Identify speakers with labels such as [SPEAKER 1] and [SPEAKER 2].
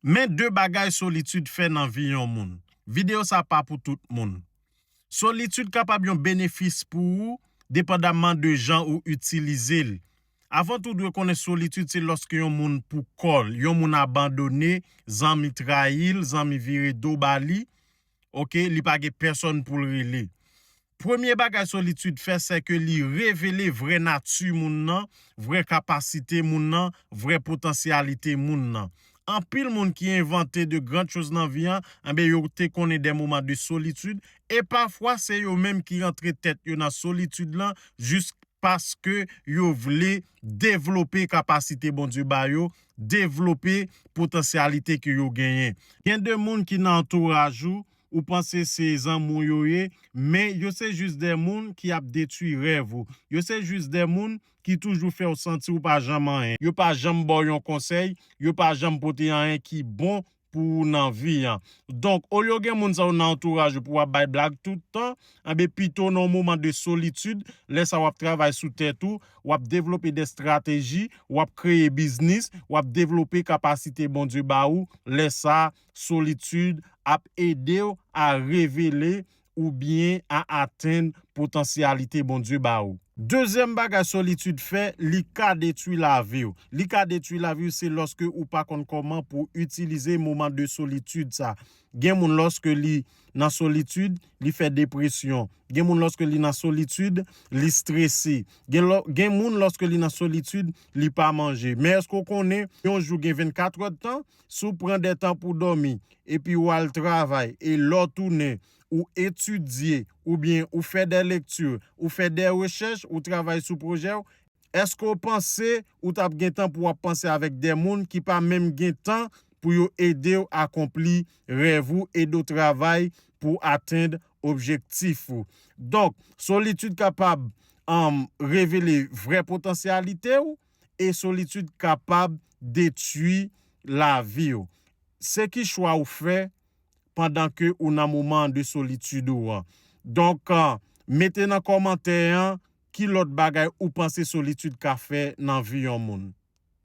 [SPEAKER 1] Men 2 bagay solitid fè nan vi yon moun. Videyo sa pa pou tout moun. Solitid kapab yon benefis pou ou depandamman de jan ou itilize l. Avan tou dwe konnen solitid se lòske yon moun pou kò l, yon moun abandone, zanmi trayi l, zanmi vire do ba li, ok, li pa gen pèsòn pou l rele. Premye bagay solitid fè sèke li revele vrè nati moun nan, vrè kapasite moun nan, vrè potansyalite moun nan. Anpil moun ki envante de grand choz nan vi an, enben yo te konnen dè moman de solitid, e pafwa se yo menm ki rantre tèt yo nan solitid lan jis paske yo vle devlope kapasite Bondye ba yo, devlope potansyalite ke yo genyen. Gen de moun ki nan antouraj ou, ou panse se zanmi w yo ye, men yo se jis de moun ki ap detwi rèv ou, yo se jis de moun ki toujou fè w santi w pa janm anyen, yo pa janm ba w yon konsèy, yo pa janm pote anyen ki bon pou ou nan vi an. Donk, olye w gen moun sa yo nan antouraj ou pou w ap bay blag tout tan, enben pito nan yon moman de solitid, lè sa w ap travay sou tèt ou, w ap devlope de estrateji, w ap kreye biznis, w ap devlope kapasite Bondye ba ou, lè sa, Solitid ap ede w a revele oubyen a atenn potansyalite Bondye ba ou. Dezyèm bagay solitid fè, li ka detwi lavi w. Li ka detwi lavi w se lòske ou pa konn kòman pou itilize moman de solitid sa. Gen moun lòske li nan solitid, li fè depresyon. Gen moun lòske li nan solitid, li strese. Gen lò, gen moun lòske li nan solitid, li pa manje. Men èske w konnen yon jou gen 24 èdtan? Si w pran de tan pou dòmi, epi ou al travay, e lè w tounen, ou etidye, oubyen ou fè de lekti, ou fè de rechèch, ou travay sou pwojè w, èske w panse ou t ap gen tan pou w ap panse avèk de moun ki pa menm gen tan pou yo ede w akonpli rèv ou, ede w travay pou w atenn objektif ou? Donk, solitid kapab revele vrè potansyalite ou. e solitid kapab detui lavi w. Se ki chwa ou fè pandan ke ou nan moman de solitid ou an. Donk, mete nan kòmantè an ki lòt bagay ou panse solitid ka fè nan vi yon moun.